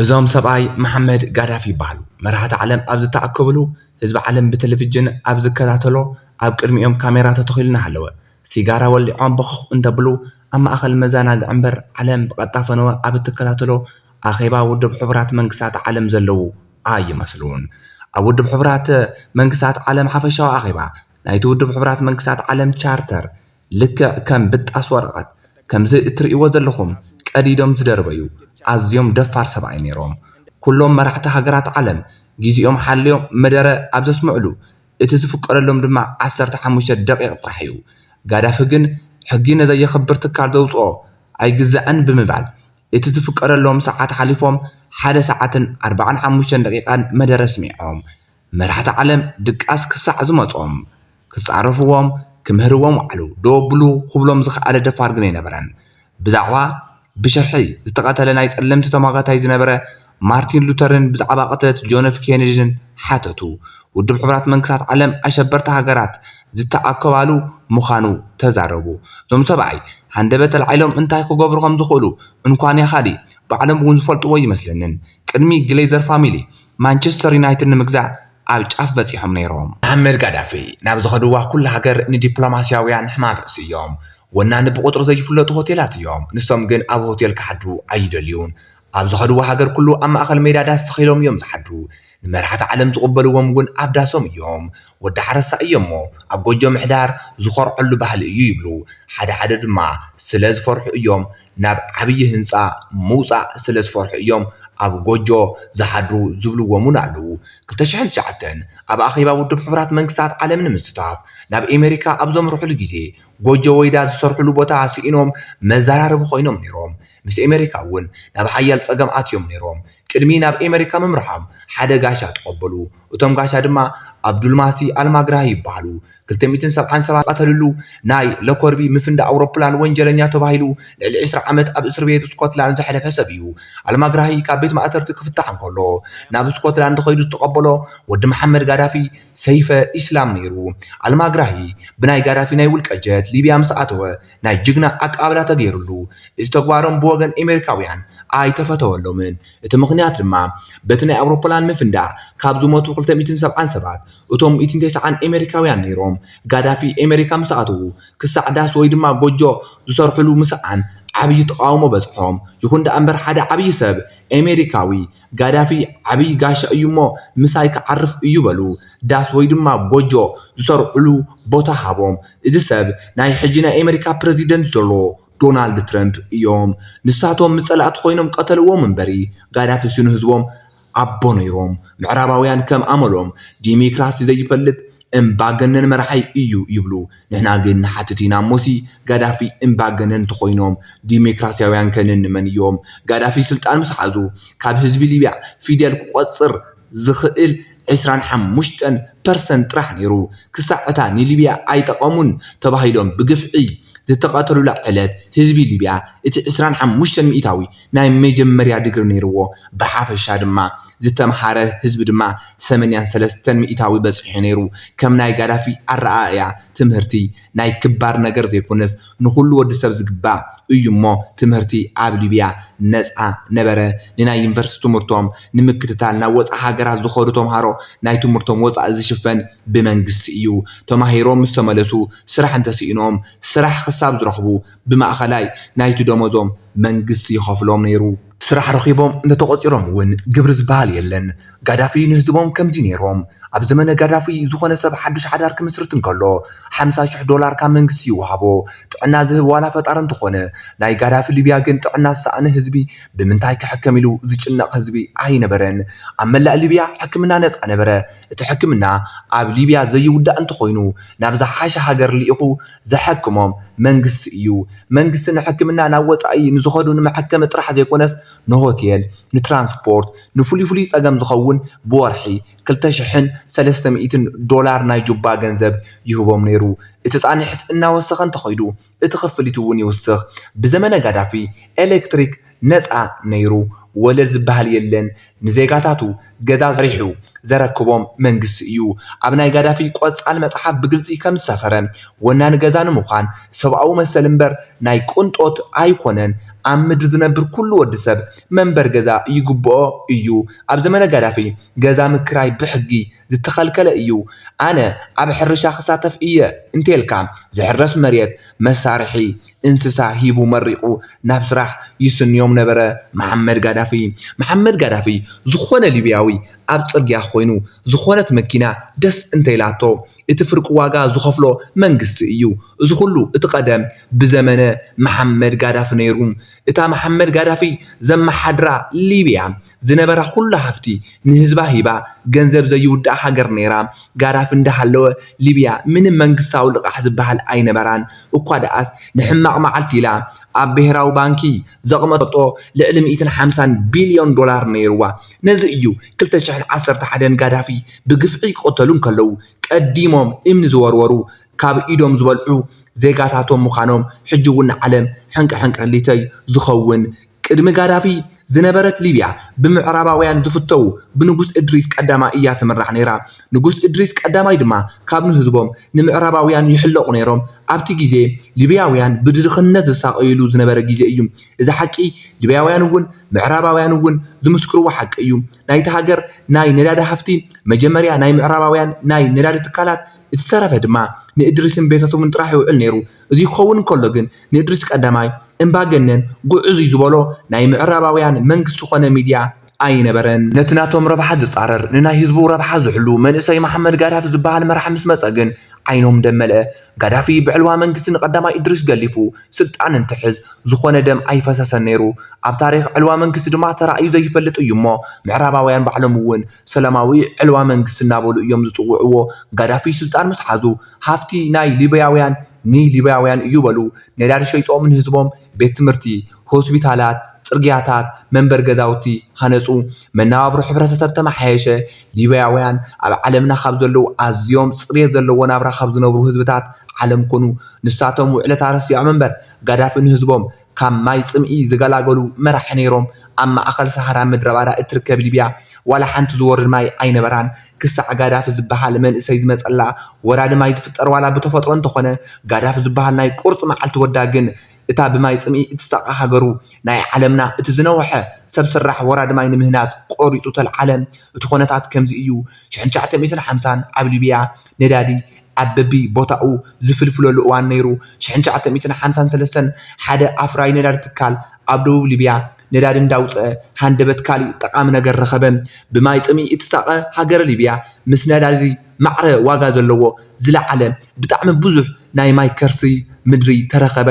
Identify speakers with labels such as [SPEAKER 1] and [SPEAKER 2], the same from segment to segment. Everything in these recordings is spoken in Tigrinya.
[SPEAKER 1] እዞም ሰብኣይ መሓመድ ጋዳፊ ይበሃሉ። መራሕቲ ዓለም ኣብ ዝተኣከብሉ፣ ህዝቢ ዓለም ብተለቪጅን ኣብ ዝከታተሎ፣ ኣብ ቅድሚኦም ካሜራ ተተኺሉ እናሃለወ፣ ሲጋራ ወሊዖም ቦኽኽ እንተብሉ፣ ኣብ ማእኸል መዘናግዒ እምበር፣ ዓለም ብቐጥታ ፈነወ ኣብ እትከታተሎ ኣኼባ ውድብ ሕቡራት መንግስታት ዓለም ዘለዉ ኣይመስሉን። ኣብ ውድብ ሕቡራት መንግስታት ዓለም ሓፈሻዊ ኣኼባ፣ ናይቲ ውድብ ሕቡራት መንግስታት ዓለም ቻርተር ልክዕ ከም ብጣስ ወረቐት ከምዚ እትርእይዎ ዘለኹም ቀዲዶም ዝደርበዩ ኣዝዮም ደፋር ሰብኣይ ነይሮም። ኩሎም መራሕቲ ሃገራት ዓለም ግዜኦም ሓልዮም መደረ ኣብ ዘስምዕሉ፣ እቲ ዝፍቀደሎም ድማ ዓሰርተ ሓሙሽተ ደቒቕ ጥራሕ'ዩ። ጋዳፊ ግን ሕጊ ንዘየኽብር ትካል ዘውጽኦ ኣይግዛእን ብምባል እቲ ዝፍቀደሎም ሰዓት ሓሊፎም ሓደ ሰዓትን ኣርባዓን ሓሙሽተን ደቒቓን መደረ ኣስሚዖም። መራሕቲ ዓለም ድቃስ ክሳዕ ዝመጾም ክጻረፍዎም ክምህርዎም ወዓሉ ዶ ብሉ ክብሎም ዝኸኣለ ደፋር ግን ኣይነበረን። ብዛዕባ ብሽርሒ ዝተቐተለ ናይ ጸለምቲ ተሟጋታይ ዝነበረ ማርቲን ሉተርን ብዛዕባ ቅትለት ጆንፍ ኬነዲን ሓተቱ። ውድብ ሕቡራት መንግስታት ዓለም ኣሸበርቲ ሃገራት ዝተኣከባሉ ምኻኑ ተዛረቡ። እዞም ሰብኣይ ሃንደበት ኣልዒሎም እንታይ ክገብሩ ከም ዝኽእሉ እንኳን ያኻሊ ባዕሎም እውን ዝፈልጥዎ ኣይመስለንን። ቅድሚ ግሌዘር ፋሚሊ ማንቸስተር ዩናይትድ ንምግዛእ ኣብ ጫፍ በጺሖም ነይሮም። መሓመድ ጋዳፊ ናብ ዝኸድዋ ኩላ ሃገር ንዲፕሎማስያውያን ሕማም ርእሲ እዮም። ወናኒ ብቑጽሪ ዘይፍለጡ ሆቴላት እዮም፣ ንሶም ግን ኣብ ሆቴል ክሓድሩ ኣይደልዩን። ኣብ ዝኸድዋ ሃገር ኩሉ ኣብ ማእከል ሜዳ ዳስ ተኺሎም እዮም ዝሓድሩ። ንመራሕቲ ዓለም ዝቕበልዎም እውን ኣብ ዳሶም እዮም። ወዲ ሓረስታይ እየ'ሞ ኣብ ጎጆ ምሕዳር ዝኾርዐሉ ባህሊ እዩ ይብሉ። ሓደ ሓደ ድማ ስለ ዝፈርሑ እዮም ናብ ዓብዪ ህንፃ ምውፃእ ስለዝፈርሑ እዮም ኣብ ጎጆ ዝሓድሩ ዝብልዎም እውን ኣለዉ። ክልተ ሽሕን ትሽዓተን ኣብ ኣኼባ ውድብ ሕቡራት መንግስታት ዓለም ንምስታፍ ናብ ኤመሪካ ኣብ ዘምርሑሉ ግዜ ጎጆ ወይዳ ዝሰርሑሉ ቦታ ስኢኖም መዘራረቢ ኮይኖም ነይሮም። ምስ ኤመሪካ እውን ናብ ሓያል ፀገም ኣትዮም ነይሮም። ቅድሚ ናብ ኤመሪካ ምምርሖም ሓደ ጋሻ ተቐበሉ። እቶም ጋሻ ድማ ኣብዱልማሲ ኣልማግራሂ ይበሃሉ። ክልተ ሚእትን ሰብዓን ሰባት ዝቐተልሉ ናይ ሎኮርቢ ምፍንዳእ ኣውሮፕላን ወንጀለኛ ተባሂሉ ልዕሊ ዕስራ ዓመት ኣብ እስርቤት ስኮትላንድ ዘሕለፈ ሰብ እዩ። ኣልማግራሂ ካብ ቤት ማእሰርቲ ክፍታሕ እንከሎ ናብ ስኮትላንድ ከይዱ ዝተቐበሎ ወዲ መሓመድ ጋዳፊ ሰይፈ ኢስላም ነይሩ። ኣልማግራሂ ብናይ ጋዳፊ ናይ ውልቀ ጀት ሊብያ ምስ ኣተወ ናይ ጅግና ኣቀባብላ ተገይሩሉ። እዚ ተግባሮም ብወገን ኤመሪካውያን ኣይተፈተወሎምን። እቲ ምኽንያት ድማ በቲ ናይ ኣውሮፕላን ምፍንዳእ ካብ ዝሞቱ ክልተ ሚእትን ሰብዓን ሰባት እቶም ሚእትን ተሰዓን ኤመሪካውያን ነይሮም። ጋዳፊ ኤመሪካ ምስ ኣተዉ ክሳዕ ዳስ ወይ ድማ ጎጆ ዝሰርሕሉ ምስኣን ዓብዪ ተቓውሞ በጽሖም። ይኹን ደኣምበር ሓደ ዓብዪ ሰብ ኤመሪካዊ ጋዳፊ ዓብዪ ጋሻ እዩ እሞ ምሳይ ክዓርፍ እዩ በሉ ዳስ ወይ ድማ ጎጆ ዝሰርሕሉ ቦታ ሃቦም እዚ ሰብ ናይ ሕጂ ናይ ኤመሪካ ፕረዚደንት ዘሎ ዶናልድ ትረምፕ እዮም ንሳቶም ምስ ፀላእቲ ኮይኖም ቀተልዎም እምበሪ ጋዳፊ ስኑ ህዝቦም ኣቦ ነይሮም ምዕራባውያን ከም ኣመሎም ዲሚክራሲ ዘይፈልጥ እምባገነን መራሒ እዩ ይብሉ ንሕና ግን ንሓትት ኢና እሞሲ ጋዳፊ እምባገነን እንተኾይኖም ዲሜክራሲያውያን ከ ነንመን እዮም? ጋዳፊ ስልጣን ምስ ሓዙ ካብ ህዝቢ ሊብያ ፊደል ክቆጽር ዝኽእል ዕስራን ሓሙሽተን ፐርሰንት ጥራሕ ነይሩ። ክሳዕ እታ ንሊብያ ኣይጠቐሙን ተባሂሎም ብግፍዒ ዝተቐተሉላ ዕለት ህዝቢ ሊብያ እቲ ዕስራን ሓሙሽተን ሚኢታዊ ናይ መጀመርያ ድግሪ ነይርዎ። ብሓፈሻ ድማ ዝተምሃረ ህዝቢ ድማ ሰመንያን ሰለስተን ሚኢታዊ በፂሑ ነይሩ። ከም ናይ ጋዳፊ ኣረኣእያ ትምህርቲ ናይ ክባር ነገር ዘይኮነስ ንኹሉ ወዲ ሰብ ዝግባእ እዩ እሞ ትምህርቲ ኣብ ሊብያ ነፃ ነበረ። ንናይ ዩኒቨርስቲ ትምህርቶም ንምክትታል ናብ ወፃእ ሃገራት ዝኸዱ ተምሃሮ ናይ ትምህርቶም ወፃኢ ዝሽፈን ብመንግስቲ እዩ። ተማሂሮም ምስ ተመለሱ ስራሕ እንተስኢኖም ስራሕ ክሳብ ዝረኽቡ ብማእኸላይ ናይቲ ደሞዞም መንግስቲ ይኸፍሎም ነይሩ። ስራሕ ረኺቦም እንተተቖፂሮም እውን ግብሪ ዝበሃል የለን። ጋዳፊ ንህዝቦም ከምዚ ነይሮም። ኣብ ዘመነ ጋዳፊ ዝኾነ ሰብ ሓዱሽ ሓዳር ክምስርት እንከሎ ሓምሳ ሽሕ ዶላር ካብ መንግስቲ ይወሃቦ። ጥዕና ዝህብ ዋላ ፈጣሪ እንተኾነ። ናይ ጋዳፊ ሊብያ ግን ጥዕና ዝሰኣነ ህዝቢ ብምንታይ ክሕከም ኢሉ ዝጭነቕ ህዝቢ ኣይነበረን። ኣብ መላእ ሊብያ ሕክምና ነፃ ነበረ። እቲ ሕክምና ኣብ ሊብያ ዘይውዳእ እንተኾይኑ ናብ ዝሓሸ ሃገር ልኢኹ ዘሐክሞም መንግስቲ እዩ። መንግስቲ ንሕክምና ናብ ወፃኢ ንዝኸዱ ንመሐከሚ ጥራሕ ዘይኮነስ ንሆቴል፣ ንትራንስፖርት፣ ንፍሉይ ፍሉይ ፀገም ዝኸውን ብወርሒ ክልተ ሽሕን ሰለስተ ሚእትን ዶላር ናይ ጁባ ገንዘብ ይህቦም ነይሩ። እቲ ፃንሒት እናወሰኸ እንተኸይዱ እቲ ክፍሊት እውን ይውስኽ። ብዘመነ ጋዳፊ ኤሌክትሪክ ነጻ ነይሩ ወለድ ዝበሃል የለን ንዜጋታቱ ገዛ ሰሪሑ ዘረክቦም መንግስቲ እዩ ኣብ ናይ ጋዳፊ ቆጻል መጽሓፍ ብግልጺ ከም ዝሰፈረ ወናኒ ገዛ ንምዃን ሰብኣዊ መሰል እምበር ናይ ቅንጦት ኣይኮነን ኣብ ምድሪ ዝነብር ኩሉ ወዲ ሰብ መንበሪ ገዛ ይግብኦ እዩ ኣብ ዘመነ ጋዳፊ ገዛ ምክራይ ብሕጊ ዝተኸልከለ እዩ ኣነ ኣብ ሕርሻ ክሳተፍ እየ እንተልካ ዝሕረስ መሬት መሳርሒ እንስሳ ሂቡ መሪቑ ናብ ስራሕ ይስንዮም ነበረ መሓመድ ጋዳፊ መሓመድ ጋዳፊ ዝኾነ ሊብያዊ ኣብ ጽርግያ ኮይኑ ዝኾነት መኪና ደስ እንተኢላቶ እቲ ፍርቂ ዋጋ ዝኸፍሎ መንግስቲ እዩ እዚ ኩሉ እቲ ቀደም ብዘመነ መሓመድ ጋዳፊ ነይሩ እታ መሓመድ ጋዳፊ ዘመሓድራ ሊብያ ዝነበራ ኩሉ ሃፍቲ ንህዝባ ሂባ ገንዘብ ዘይውዳእ ሃገር ነይራ ጋዳፊ እንዳሃለወ ሊብያ ምንም መንግስታዊ ልቓሕ ዝባሃል ኣይነበራን እኳ ዳኣስ ንሕማቕ ማዓልቲ ኢላ ኣብ ብሄራዊ ባንኪ ዘቕመጠቶ ልዕሊ ሚእትን ሓምሳን ቢልዮን ዶላር ነይርዋ ነዚ እዩ ክልተ ሽሕን ዓሰርተ ሓደን ጋዳፊ ብግፍዒ ይቕተሉ እንከለዉ ቀዲሞም እምኒ ዝወርወሩ ካብ ኢዶም ዝበልዑ ዜጋታቶም ምዃኖም ሕጂ ውን ንዓለም ሕንቅሕንቅሊተይ ዝኸውን ቅድሚ ጋዳፊ ዝነበረት ሊብያ ብምዕራባውያን ዝፍተዉ ብንጉስ እድሪስ ቀዳማይ እያ ትምራሕ ነይራ። ንጉስ እድሪስ ቀዳማይ ድማ ካብ ንህዝቦም ንምዕራባውያን ይሕለቑ ነይሮም። ኣብቲ ግዜ ሊብያውያን ብድርኽነት ዝሳቐዩሉ ዝነበረ ግዜ እዩ። እዚ ሓቂ ሊብያውያን እውን ምዕራባውያን እውን ዝምስክርዎ ሓቂ እዩ። ናይቲ ሃገር ናይ ነዳዲ ሃፍቲ መጀመርያ ናይ ምዕራባውያን ናይ ነዳዲ ትካላት፣ እቲ ዝተረፈ ድማ ንእድሪስን ቤተሰቡን ጥራሕ ይውዕል ነይሩ። እዚ ክኸውን እንከሎ ግን ንእድሪስ ቀዳማይ እምባገነን ግዑዙይ ዝበሎ ናይ ምዕራባውያን መንግስቲ ኮነ ሚድያ ኣይነበረን። ነቲ ናቶም ረብሓ ዝጻረር ንናይ ህዝቡ ረብሓ ዝሕሉ መንእሰይ መሓመድ ጋዳፊ ዝበሃል መራሒ ምስ መጸ ግን ዓይኖም ደም መልአ። ጋዳፊ ብዕልዋ መንግስቲ ንቀዳማይ እድሪስ ገሊፉ ስልጣን እንትሕዝ ዝኾነ ደም ኣይፈሰሰን ነይሩ። ኣብ ታሪኽ ዕልዋ መንግስቲ ድማ ተራእዩ ዘይፈልጥ እዩሞ ምዕራባውያን ባዕሎም'ውን ሰላማዊ ዕልዋ መንግስቲ እናበሉ እዮም ዝጽውዕዎ። ጋዳፊ ስልጣን ምስ ሓዙ ሃፍቲ ናይ ሊብያውያን ንሊብያውያን እዩ በሉ ነዳዲ ሸይጦም ንህዝቦም ቤት ትምህርቲ፣ ሆስፒታላት፣ ጽርግያታት፣ መንበሪ ገዛውቲ ሃነጹ። መነባብሮ ሕብረተሰብ ተመሓየሸ። ሊብያውያን ኣብ ዓለምና ካብ ዘለዉ ኣዝዮም ጽሬት ዘለዎ ናብራ ካብ ዝነብሩ ህዝብታት ዓለም ኮኑ። ንሳቶም ውዕለታ ረሲዖም እምበር ጋዳፊ ንህዝቦም ካብ ማይ ጽምኢ ዝገላገሉ መራሒ ነይሮም። ኣብ ማእከል ሰሃራ ምድረባዳ እትርከብ ሊብያ ዋላ ሓንቲ ዝወርድ ማይ ኣይነበራን። ክሳዕ ጋዳፊ ዝበሃል መንእሰይ ዝመጸላ ወራዲ ማይ ዝፍጠር ዋላ ብተፈጥሮ እንተኾነ ጋዳፊ ዝበሃል ናይ ቁርጺ መዓልቲ ወዳ ግን እታ ብማይ ጽምኢ እትሳቐ ሃገሩ ናይ ዓለምና እቲ ዝነውሐ ሰብ ስራሕ ወራዲ ማይ ንምህናጽ ቆሪጹ ተልዓለ። እቲ ኮነታት ከምዚ እዩ። ሽሕን ትሽዓተ ሚእትን ሓምሳን ኣብ ሊብያ። ነዳዲ ኣብ በቢ ቦታኡ ዝፍልፍለሉ እዋን ነይሩ። ሽሕን ትሽዓተ ሚእትን ሓምሳን ሰለስተን ሓደ ኣፍራዪ ነዳዲ ትካል ኣብ ደቡብ ሊብያ ነዳዲ እንዳውጽኣ ሃንደበት ካሊእ ጠቓሚ ነገር ረኸበ። ብማይ ጽምኢ እትሳቐ ሃገረ ሊብያ ምስ ነዳዲ ማዕረ ዋጋ ዘለዎ ዝለዓለ ብጣዕሚ ብዙሕ ናይ ማይ ከርሲ ምድሪ ተረኸበ።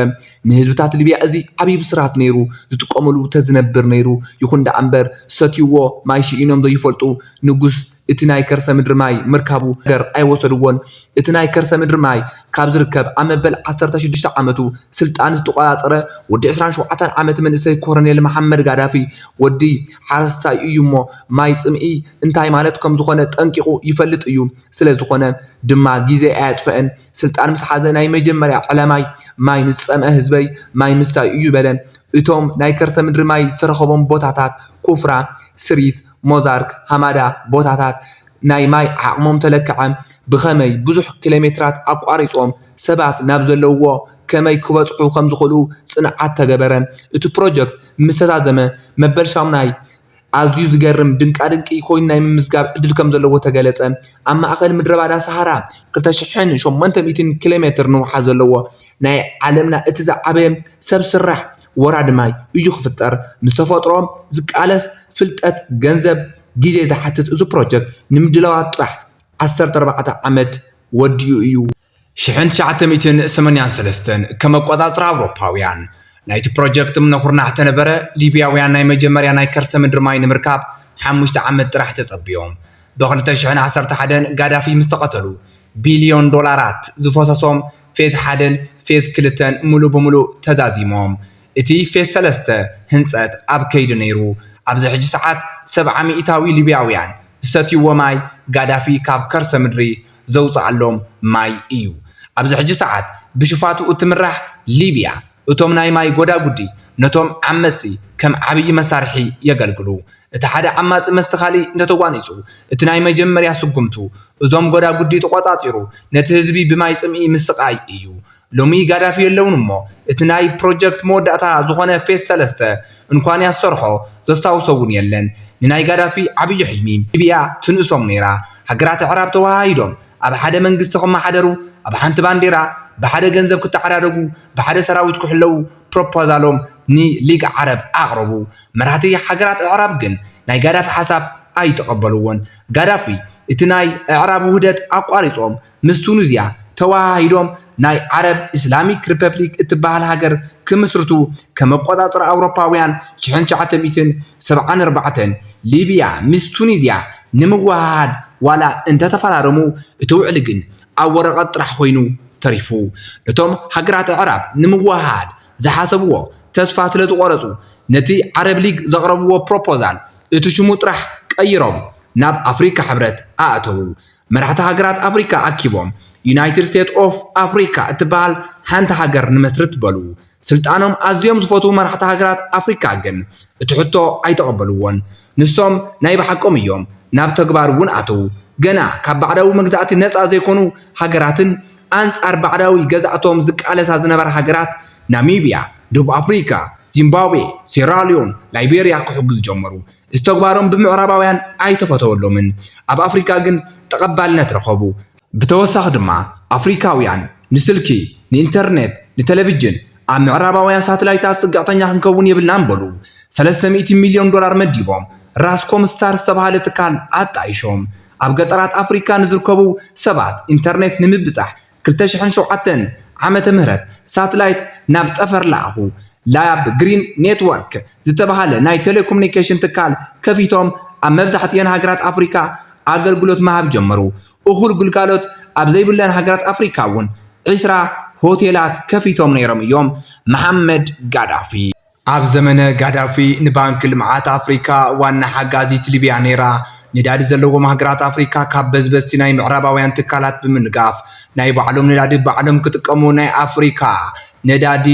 [SPEAKER 1] ንህዝብታት ሊብያ እዚ ዓብይ ብስራት ነይሩ ዝጥቀምሉ ተዝነብር ነይሩ። ይኹን ደኣ እምበር ዝሰትይዎ ማይ ሽኢኖም ዘይፈልጡ ንጉስ እቲ ናይ ከርሰ ምድሪ ማይ ምርካቡ ገር ኣይወሰድዎን። እቲ ናይ ከርሰ ምድሪ ማይ ካብ ዝርከብ ኣብ መበል ዓሰርተ ሽዱሽተ ዓመቱ ስልጣን ዝተቖጻጸረ ወዲ ዕስራን ሸውዓተን ዓመት መንእሰይ ኮረኔል መሓመድ ጋዳፊ ወዲ ሓረስታይ እዩ እሞ ማይ ጽምኢ እንታይ ማለት ከምዝኾነ ጠንቂቑ ይፈልጥ እዩ ስለዝኾነ ድማ ጊዜ ኣየጥፈኣን ስልጣን ምስ ሓዘ ናይ መጀመርያ ዕላማይ ማይ ንዝጸምኣ ህዝበይ ማይ ምስታይ እዩ በለ እቶም ናይ ከርሰ ምድሪ ማይ ዝተረኸቦም ቦታታት ኩፍራ ስሪት ሞዛርክ፣ ሃማዳ፣ ቦታታት ናይ ማይ ዓቕሞም ተለክዐ፣ ብኸመይ ብዙሕ ኪሎሜትራት ኣቋሪጾም ሰባት ናብ ዘለውዎ ከመይ ክበጽሑ ከምዝኽእሉ ጽንዓት ተገበረ። እቲ ፕሮጀክት ምስ ተዛዘመ መበል ሻሙናይ ኣዝዩ ዝገርም ድንቃድንቂ ኮይኑ ናይ ምምዝጋብ ዕድል ከምዘለዎ ተገለጸ። ኣብ ማእከል ምድረባዳ ሰሃራ ክልተ ሽሕን ሸሞንተ ሚእትን ኪሎሜትር ንውሓት ዘለዎ ናይ ዓለምና እቲ ዝዓበየ ሰብ ስራሕ ወራዲ ማይ እዩ ክፍጠር ምስ ተፈጥሮ ዝቃለስ ፍልጠት ገንዘብ ግዜ ዝሓትት እዚ ፕሮጀክት ንምድላዋት ጥራሕ ዓሰርተ ኣርባዕተ ዓመት ወዲኡ እዩ። ሽሕን ትሽዓተ ሚእትን ሰመንያን ሰለስተን ከም ኣቆጻጽራ ኣውሮፓውያን ናይቲ ፕሮጀክት እምነ ኩርናዕ ተነበረ ሊብያውያን ናይ መጀመርያ ናይ ከርሰ ምድሪ ማይ ንምርካብ ሓሙሽተ ዓመት ጥራሕ ተጸብዮም ብ ክልተ ሽሕን ዓሰርተ ሓደን ጋዳፊ ምስ ተቀተሉ ቢልዮን ዶላራት ዝፈሰሶም ፌዝ ሓደን ፌዝ ክልተን ሙሉእ ብሙሉእ ተዛዚሞም። እቲ ፌዝ ሰለስተ ህንፀት ኣብ ከይዲ ነይሩ። ኣብዚ ሕጂ ሰዓት ሰብዓ ሚኢታዊ ሊብያውያን ዝሰትይዎ ማይ ጋዳፊ ካብ ከርሰ ምድሪ ዘውፀኣሎም ማይ እዩ። ኣብዚ ሕጂ ሰዓት ብሽፋቱ እትምራሕ ሊብያ፣ እቶም ናይ ማይ ጎዳጉዲ ነቶም ዓመጽቲ ከም ዓብዪ መሳርሒ የገልግሉ። እቲ ሓደ ዓማጺ ምስቲ ካልእ እንተተጓኒጹ፣ እቲ ናይ መጀመርያ ስጉምቱ እዞም ጎዳጉዲ ተቖጻጺሩ ነቲ ህዝቢ ብማይ ጽምኢ ምስቓይ እዩ። ሎሚ ጋዳፊ የለውን እሞ እቲ ናይ ፕሮጀክት መወዳእታ ዝኾነ ፌስ ሰለስተ እንኳን ያሰርሖ ዘስታውሶ እውን የለን። ንናይ ጋዳፊ ዓብዪ ሕልሚ ሊብያ ትንእሶም ነይራ። ሃገራት ኣዕራብ ተወሃሂዶም ኣብ ሓደ መንግስቲ ክመሓደሩ፣ ኣብ ሓንቲ ባንዴራ ብሓደ ገንዘብ ክተዓዳደጉ፣ ብሓደ ሰራዊት ክሕለዉ ፕሮፖዛሎም ንሊግ ዓረብ ኣቕረቡ። መራህቲ ሃገራት ኣዕራብ ግን ናይ ጋዳፊ ሓሳብ ኣይተቐበልዎን። ጋዳፊ እቲ ናይ ኣዕራብ ውህደት ኣቋሪጾም ምስ ቱኒዝያ ተወሃሂዶም ናይ ዓረብ ኢስላሚክ ሪፐብሊክ እትበሃል ሃገር ክምስርቱ ከም ኣቆጻጽራ ኣውሮፓውያን ሽሕን ትሽዓተ ሚእትን ሰብዓን ኣርባዕተን ሊብያ ምስ ቱኒዝያ ንምውህሃድ ዋላ እንተተፈራረሙ እቲ ውዕሊ ግን ኣብ ወረቐት ጥራሕ ኮይኑ ተሪፉ። እቶም ሃገራት ኣዕራብ ንምውህሃድ ዝሓሰብዎ ተስፋ ስለዝቖረጹ ነቲ ዓረብ ሊግ ዘቕረብዎ ፕሮፖዛል እቲ ሽሙ ጥራሕ ቀይሮም ናብ ኣፍሪካ ሕብረት ኣእተዉ። መራሕቲ ሃገራት ኣፍሪካ ኣኪቦም ዩናይትድ ስቴት ኦፍ ኣፍሪካ እትበሃል ሓንቲ ሃገር ንመስርት በሉ። ስልጣኖም ኣዝዮም ዝፈትዉ መራሕቲ ሃገራት ኣፍሪካ ግን እቲ ሕቶ ኣይተቐበልዎን። ንሶም ናይ ብሓቆም እዮም ናብ ተግባር እውን ኣተዉ። ገና ካብ ባዕዳዊ መግዛእቲ ነፃ ዘይኮኑ ሃገራትን ኣንፃር ባዕዳዊ ገዛእቶም ዝቃለሳ ዝነበራ ሃገራት ናሚብያ፣ ደቡብ ኣፍሪካ፣ ዚምባብዌ፣ ሴራልዮን፣ ላይቤርያ ክሕግዙ ጀመሩ። እዚ ተግባሮም ብምዕራባውያን ኣይተፈተወሎምን። ኣብ ኣፍሪካ ግን ተቐባልነት ረኸቡ። ብተወሳኺ ድማ ኣፍሪካውያን ንስልኪ፣ ንኢንተርኔት፣ ንተለቪጅን ኣብ ምዕራባውያን ሳትላይታት ፅግዕተኛ ክንከውን የብልናን በሉ። ሰለስተ ሚእቲ ሚልዮን ዶላር መዲቦም ራስ ኮም ስታር ዝተብሃለ ትካል ኣጣይሾም ኣብ ገጠራት ኣፍሪካ ንዝርከቡ ሰባት ኢንተርኔት ንምብፃሕ ክልተ ሽሕን ሸውዓተን ዓመተ ምህረት ሳትላይት ናብ ጠፈር ለኣኹ። ላብ ግሪን ኔትወርክ ዝተብሃለ ናይ ቴሌኮሙኒኬሽን ትካል ከፊቶም ኣብ መብዛሕቲኤን ሃገራት ኣፍሪካ ኣገልግሎት ምሃብ ጀመሩ። እኹል ግልጋሎት ኣብ ዘይብለን ሃገራት ኣፍሪካ እውን ዕስራ ሆቴላት ከፊቶም ነይሮም እዮም። መሓመድ ጋዳፊ። ኣብ ዘመነ ጋዳፊ ንባንኪ ልምዓት ኣፍሪካ ዋና ሓጋዚት ሊብያ ነይራ። ነዳዲ ዘለዎም ሃገራት ኣፍሪካ ካብ በዝበዝቲ ናይ ምዕራባውያን ትካላት ብምንጋፍ ናይ ባዕሎም ነዳዲ ባዕሎም ክጥቀሙ ናይ ኣፍሪካ ነዳዲ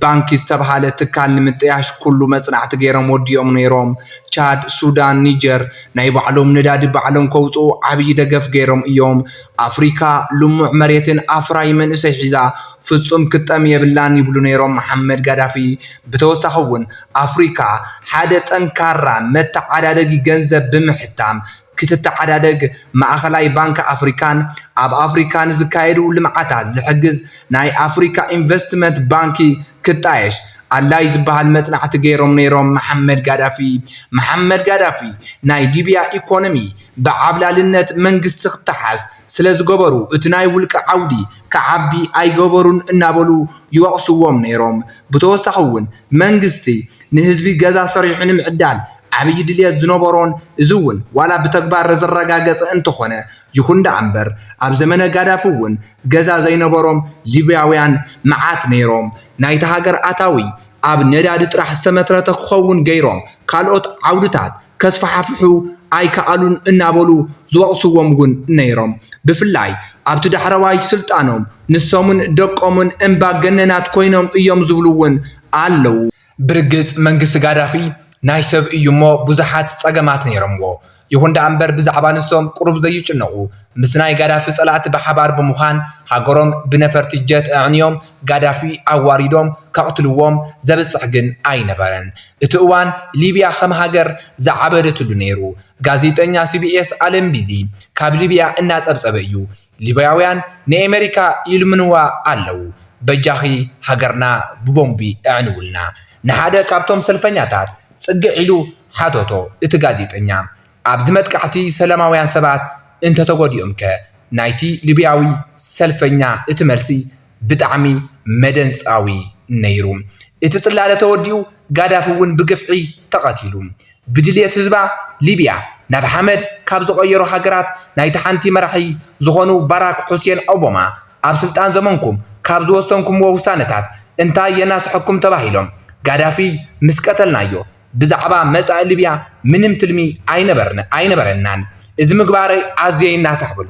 [SPEAKER 1] ባንኪ ዝተብሃለ ትካል ንምጥያሽ ኩሉ መፅናዕቲ ገይሮም ወዲኦም ነይሮም። ቻድ፣ ሱዳን፣ ኒጀር ናይ ባዕሎም ነዳዲ ባዕሎም ከውፅኡ ዓብዪ ደገፍ ገይሮም እዮም። ኣፍሪካ ልሙዕ መሬትን ኣፍራዪ መንእሰይ ሒዛ ፍፁም ክትጠሚ የብላን ይብሉ ነይሮም መሓመድ ጋዳፊ። ብተወሳኺ እውን ኣፍሪካ ሓደ ጠንካራ መተዓዳደጊ ገንዘብ ብምሕታም ክትተዓዳደግ ማእኸላይ ባንኪ ኣፍሪካን ኣብ ኣፍሪካ ንዝካየዱ ልምዓታት ዝሕግዝ ናይ ኣፍሪካ ኢንቨስትመንት ባንኪ ክጣየሽ ኣላይ ዝበሃል መፅናዕቲ ገይሮም ነይሮም መሓመድ ጋዳፊ መሓመድ ጋዳፊ ናይ ሊብያ ኢኮኖሚ ብዓብላልነት መንግስቲ ክተሓዝ ስለዝገበሩ እቲ ናይ ውልቀ ዓውዲ ክዓቢ ኣይገበሩን እናበሉ ይወቕስዎም ነይሮም ብተወሳኺ እውን መንግስቲ ንህዝቢ ገዛ ሰሪሑ ንምዕዳል ዓብዪ ድልየት ዝነበሮን እዚ እውን ዋላ ብተግባር ዘረጋገፀ እንተኾነ ይኹን ደኣ እምበር ኣብ ዘመነ ጋዳፊ እውን ገዛ ዘይነበሮም ሊብያውያን መዓት ነይሮም ናይታ ሃገር ኣታዊ ኣብ ነዳዲ ጥራሕ ዝተመትረተ ክኸውን ገይሮም ካልኦት ዓውድታት ከስፋሕፍሑ ኣይከኣሉን እናበሉ ዝወቕስዎም እውን ነይሮም ብፍላይ ኣብቲ ዳሕረዋይ ስልጣኖም ንሶምን ደቆምን እምባገነናት ኮይኖም እዮም ዝብሉ እውን ኣለዉ። ብርግጽ መንግስቲ ጋዳፊ ናይ ሰብ እዩ እሞ ብዙሓት ጸገማት ነይሮምዎ። ይኹን ደኣ እምበር ብዛዕባ ንሶም ቁሩብ ዘይጭነቑ ምስ ናይ ጋዳፊ ጸላእቲ ብሓባር ብምዃን ሃገሮም ብነፈርቲ ጀት ኣዕንዮም ጋዳፊ ኣዋሪዶም ከቕትልዎም ዘብጽሕ ግን ኣይነበረን። እቲ እዋን ሊብያ ከም ሃገር ዝዓበደትሉ ነይሩ። ጋዜጠኛ ሲቢኤስ ኣለን ቢዚ ካብ ሊብያ እናጸብጸበ እዩ ሊብያውያን ንኤመሪካ ይልምንዋ ኣለው በጃኺ ሃገርና ብቦምቢ ኣዕንውልና ንሓደ ካብቶም ሰልፈኛታት ጽግዕ ኢሉ ሓተቶ እቲ ጋዜጠኛ ኣብዚ መጥቃዕቲ ሰላማውያን ሰባት እንተተጎዲኦምከ ናይቲ ሊብያዊ ሰልፈኛ እቲ መልሲ ብጣዕሚ መደንጻዊ ነይሩ። እቲ ጽላለ ተወዲኡ ጋዳፊ እውን ብግፍዒ ተቐቲሉ። ብድልየት ህዝባ ሊብያ ናብ ሓመድ ካብ ዝቐየሩ ሃገራት ናይቲ ሓንቲ መራሒ ዝኾኑ ባራክ ሑሴን ኦቦማ ኣብ ስልጣን ዘመንኩም ካብ ዝወሰንኩምዎ ውሳነታት እንታይ የናስሐኩም ተባሂሎም ጋዳፊ ምስ ቀተልናዮ ብዛዕባ መጻኢ ሊብያ ምንም ትልሚ ኣይነበረናን እዚ ምግባረይ ኣዝየ ይናሳሕ በሉ።